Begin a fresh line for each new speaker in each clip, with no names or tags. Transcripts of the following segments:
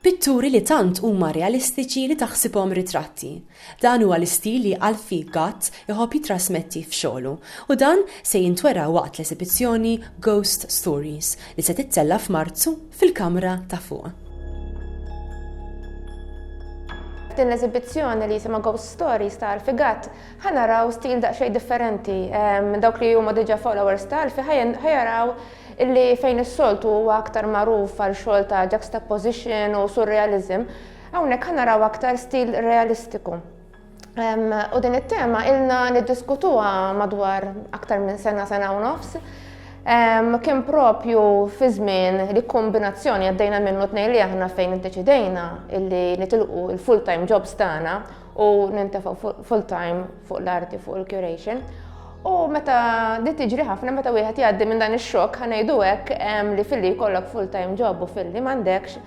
Pitturi li tant huma realistiċi li taħsibhom ritratti. Dan huwa l-istil li Alfie Gatt iħobb jitrasmetti f'xogħlu u dan se jintwera waqt l-esibizzjoni Ghost Stories li se tittella' f'Marzu fil-kamra ta' fuq.
F'din l-esibizzjoni li jisimha Ghost Stories ta' Alfie Gatt, Ħa naraw stil daqsxejn differenti. Dawk li huma diġà followers ta' Alfie ħa jaraw li fejn is-soltu huwa aktar magħruf għal xogħol ta' juxtaposition u surrealism, hawnhekk ħa naraw aktar stil realistiku. U din it-tema ilna niddiskutuha madwar aktar minn sena sena u nofs. Kien propju fi żmien li kombinazzjoni għaddejna minnu tnejn li aħna fejn iddeċidejna illi nitilqu il-full-time jobs tagħna u nintefaq full time fuq l-arti fuq il-curation. U meta di tiġri ħafna meta wieħed jgħaddi minn dan ix-xokk ħanejdu hekk li filli jkollok full time job u filli m'għandekx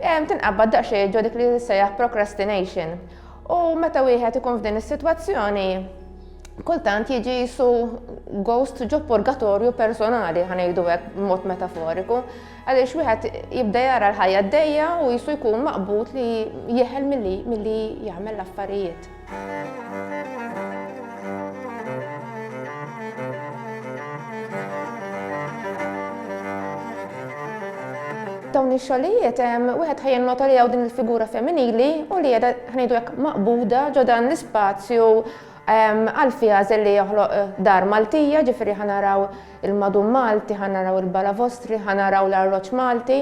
tinqabad daqsxejn ġo dik li sejjaħ procrastination. U meta wieħed ikun f'din is-sitwazzjoni kultant jiġi jisu ghost ġo purgatorju personali ħanejdu hekk mod metaforiku. Għaliex wieħed jibda jara l-ħajja għaddejja u jisu jkun maqbud li jeħel milli jagħmel l-affarijiet. dawn ix-xogħlijiet wieħed ħajja nota li hawn din il-figura femminili u li qiegħda ħnidu hekk maqbuda ġo dan l-ispazju għal fiha li joħloq eh, dar Maltija, ġifieri ħanaraw il-madum Malti, ħa naraw il-balavostri, ħa naraw l-arloġġ Malti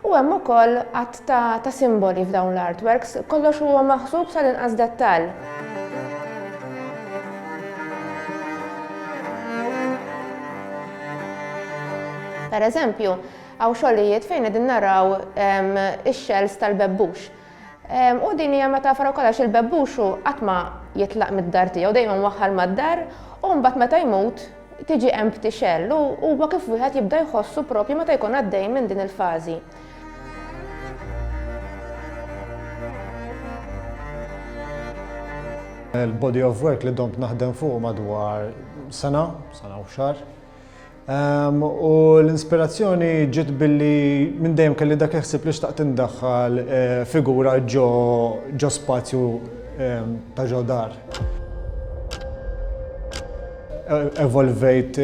u hemm ukoll għadd ta' simboli f'dawn l-artworks. Kollox huwa maħsub sal-inqas dettall. Pereżempju, hawn xogħlijiet fejn qegħdin naraw ix-shells tal-bebbux. U din hija metafora wkoll għax il-bebbux hu qatt ma jitlaq mid-dar tiegħu, dejjem mwaħħal mad-dar u mbagħad meta jmut tiġi empty shell u huwa kif wieħed jibda jħossu propju meta jkun għaddej minn din il-fażi.
Il-body of work li domt naħdem fuq madwar sena, sena u xahar, U l-inspirazzjoni ġiet billi minn dejjem kelli dak il-ħsieb li xtaqt indaħħal eh, figura ġo spazju ta' ġo dar. E, evolvejt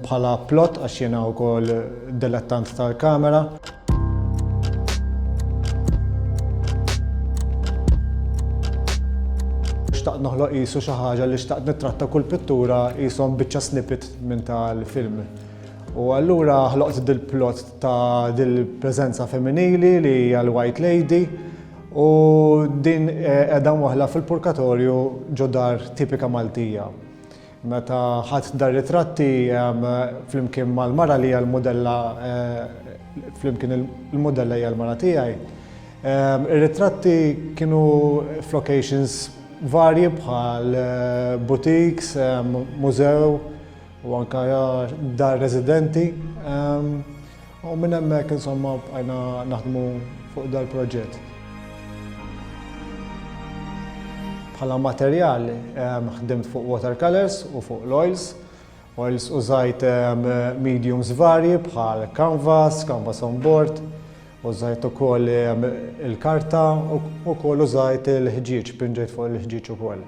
bħala plot għax jiena wkoll dilettant tal-kamera. xtaqt noħloq jisu xi ħaġa li xtaqt nittratta kull pittura jisom biċċa snippet Minn tal-film. U allura ħloqt dil-plot ta' dil-preżenza femminili li hija l-White Lady u din qiegħda mwaħla fil-purkatorju ġo dar tipika Maltija. Meta ħadt dar ritratti flimkien mal-mara li hija l-mudella flimkien il-mudella hija l-mara tiegħi, Ir-ritratti kienu f'locations varji bħal boutiques, mużew u anke dar residenti. U minn hemmhekk insomma bqajna naħdmu fuq dal-proġett. Bħala materjal ħdimt fuq watercolours u fuq l-oils. Oils użajt mediums varji bħal canvas, canvas on board, użajt ukoll il-karta u ukoll użajt il-ħġieġ, pinġejt fuq il-ħġieġ ukoll.